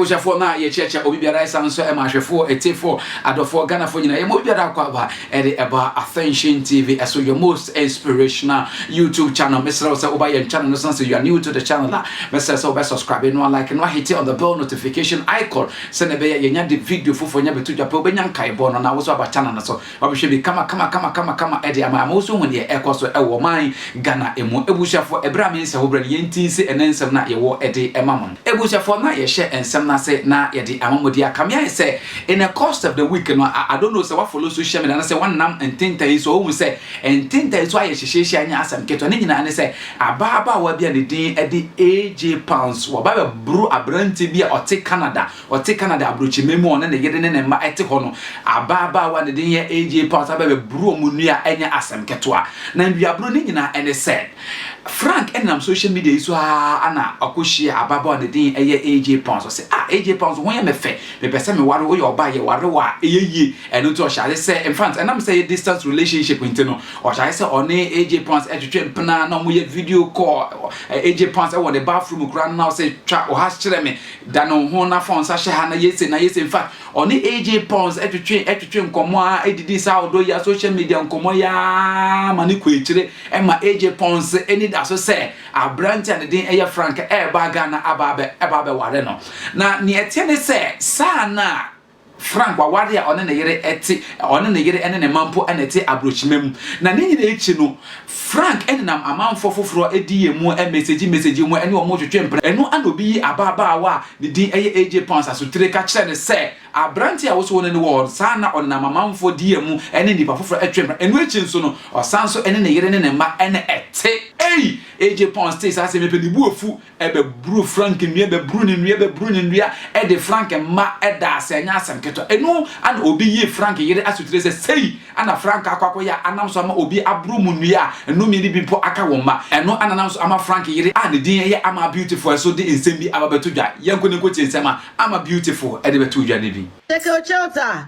abusuafoɔ no a yɛkyerɛkyerɛ obi biara ɛsan nso ɛma ahwɛfoɔ ɛtefoɔ adɔfoɔ ghanafoɔ nyinaa yɛma obi biara akɔ aba ɛde ɛba attention tv ɛso your most inspirational youtube channel mesrɛ wo sɛ woba yɛn channel no san sɛ you are new to the channel a mɛsrɛ sɛ wobɛ subscribe no a like no ahete on the bell notification icon Sɛnea ɛbɛyɛ a yɛanya de video foforo nya bɛto dwa pɛ, wobɛnya nkaebɔ no na wo nso aba channel no so abɛhwɛ bi kamakamakamakama de ama ama wo nso wohu deɛ ɛrekɔ so wɔ ɔman Ghana mu. Abusuafoɔ, ɛberɛ a me nsa ho berɛ no, yɛnti nse ɛnnɛ nsɛm no a yɛwɔ de ma mo no. Abusuafoɔ, na yɛhyɛ nsɛm no ase na yɛde ama mo deɛ aka me ayɛ sɛ in a course of the week no, I don't know sɛ woa follow social media anaasɛ woanam ntentan yi so a, woahu sɛ ntentan so ayɛ hyehyeehye a ɛnyɛ asɛm ketewa. Ne nyinaa ne sɛ, Ababaawa bi a ne din de AJ Pounds, waba abɛboro aberanteɛ bi a ɔte Canada, ɔte Canada aburokyiman mu a ɔne ne yere ne ne mma te hɔ no. Ababaawa a ne din yɛ AJ Pounds aba abɛboro wɔn nnua a ɛnyɛ asɛm ketewa. Na nnuaburo no nyinaa ne sɛ, Frank nam social media yi so ara na ɔkɔhyiaa ababaawa a ne din yɛ AJ Pounds. Ɔse, ah, AJ Pounds, wo ho yɛ me fɛ, mepɛ sɛ meware wo, woyɛ ɔbaa, yɛware wo a, ɛyɛ yie. Ɛno nti ɔhyɛ ase sɛ, in fact, ɛnam sɛ ɛyɛ distance relationship nti no, ɔhyɛ ase sɛ ɔne AJ Pons ɛtwetwe mpena na ɔmo yɛ video call, ɛ, AJ Pons ɛwɔ ne bathroom koraa no na ɔsɛ twa wo has kyerɛ me, da ne wo ho na fa wo nsa hyɛ ha na yɛ se na yɛ se, in fact, ɔne AJ Pons ɛtwetwe ɛtwetwe nkɔmɔ ara ɛdidi saa ɔdɔ yi a social media nkɔmɔ yi ara ma ne kɔ akyire ɛma AJ Pons ani da so sɛ aberante a ne din ɛyɛ Frank ɛɛba Ghana aba abɛ ɛba abɛware no na nea ɛteɛ ne sɛ saa na Frank, waware a ɔne ne yere te, ɔne ne yere ne ne mma mpo na ɛte aburokyima mu. Na ne nyinaa akyi no, Frank nenam amanfoɔ foforɔ diiɛ mu mesegye mesegye mu ne wɔn retwetwe mpena. Ɛno na obi yi ababaawa a ne din yɛ AJ Pounds asotire ka kyerɛ no sɛ, Aberanteɛ a wosoo no no wɔ hɔ saa na ɔnenam amanfoɔ diiɛ mu ne nnipa foforɔ twe mpena. Ɛno akyi nso no, ɔsan nso ne ne yere ne ne mma na ɛte. Ei! AJ Pounds tee saa asɛm yi pɛ, ne bo afu, ɛbɛburu frank nnua ɛbɛburu ne nnua ɛbɛburu ne nnua ɛde frank mma ɛda ase ɛnyɛ asɛm ketewa ɛnu ana obi yii frank yere asotire sɛ sei ana frank akɔ akɔyɛ a anam so ama obi aboro mu nnua a nnome no bi mpo aka wɔn mma ɛno ana nam so ama frank yere a ne din yɛ ama beautiful ɛso de nsɛm bi aba bɛto dwa yɛnkɔ na yɛnkɔtie nsɛm a ama beautiful ɛde bɛto dwa no bi. Cecil Childs a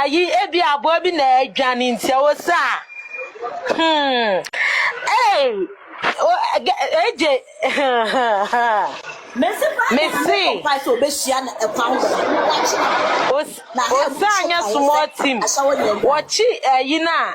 Ayi, ebi aboa bi na adwane nti ɛwɔ sɛ a. Hmm. Hey, eje. Mesi pa. Mesi. Pa so obehyia na ɛkwa ho bɛma. Osa anya small team. Wɔkyi ayi na.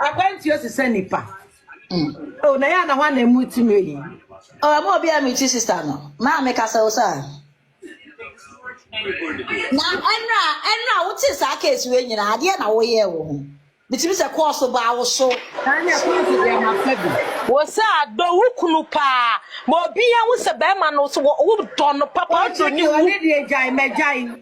Akwantuo te sɛ nipa. Oh, na yɛ na hɔ na mu tumi yi. Oh, ɛmɔ obi a mekyi sista no. Maa me kasa wo saa. Na ɛnra ɛnra wo te saa case wei nyina adeɛ na woyɛ wo ho. Bitimi sɛ kɔɔso baa wo so. Saa ne kɔɔso deɛ ma fa bi. Wo saa dɔ wo kunu paa. Ma obi ahu sɛ bɛrima no wo dɔ no papa ɔdɔ ne wu. Ɔne deɛ gyae mɛgyae.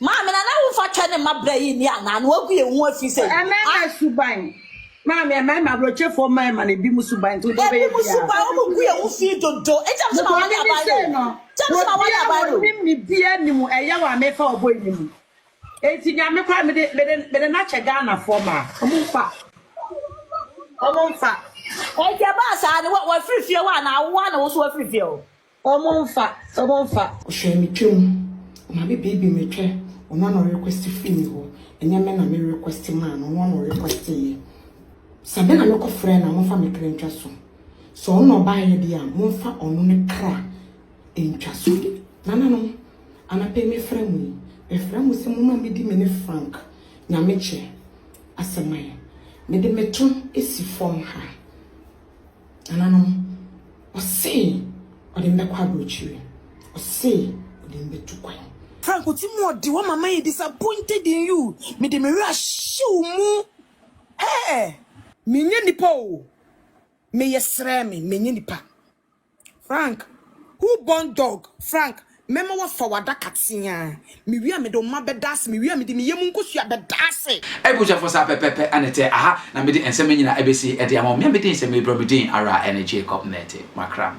Maame, na na wo mfa twɛ ne mma bra yi nni anaa? Na wagu yɛn ho afi sɛ yi. Mmarima suban. Maame, mmarima aburokyefoɔ mmarima no ebinom suban nti wode wobɛyɛ biara. Ebinom suban, wɔn gu yɛn ho fi dodo. Nti ɛm sɛ ma wale aban no o. Nti ɛm sɛ ma wale aban no o. Obiara wɔnim ne biara nim ɛyaw a mefa ɔbɔ yi no mu. Nti nea me koraa mede mede mede no akyɛ Ghanafoɔ maa wɔn mfa wɔn mfa. Nti ɛbaa saa no wa wafiri fie hɔ anaa wo ara na wo nso wafiri fie hɔ? Omo nfa omo nfa. Ɔhwɛɛ me twam, ɔma me baby me twɛ, ɔno na ɔrequest firi me hɔ, ɛnyɛ me na me request maa no, ɔno na ɔrequesteeɛ. Sɛ me na me kɔ frɛɛ no a, momfa me kra ntwa so. Sɛ ɔno na ɔbaeɛ deɛ a, momfa ɔno ne kra ntwa so. Nananom, anapa yi mefrɛ mo yi, mefrɛ mo sɛ momma medi me ne Frank Nyamekyɛ asɛm ayɛ. Mede me to si fam ha. Nananom, ɔse ɔde me bɛkɔ aburokyire, ɔse ɔde me bɛtu kwan. Frank Otimoɔdi wo mama yɛ disappointed in you me de me werɛ ahyɛ wo mu eh. Menyɛ nipa oo, meyɛ srɛɛ me menyɛ nipa. Frank, who born dog? Frank, mɛma woafa w'adaka teaa. Mewie a mede wo mma bɛda ase, mewie a mede me yam nkosua bɛda ase. Abusuafo saa pɛpɛɛpɛ na ɛte, aha na mede nsɛmma nyinaa abesi de ama wo. Me a me din sɛ merebrɛ me din ara a ɛne Jacob na ɛte, Makram.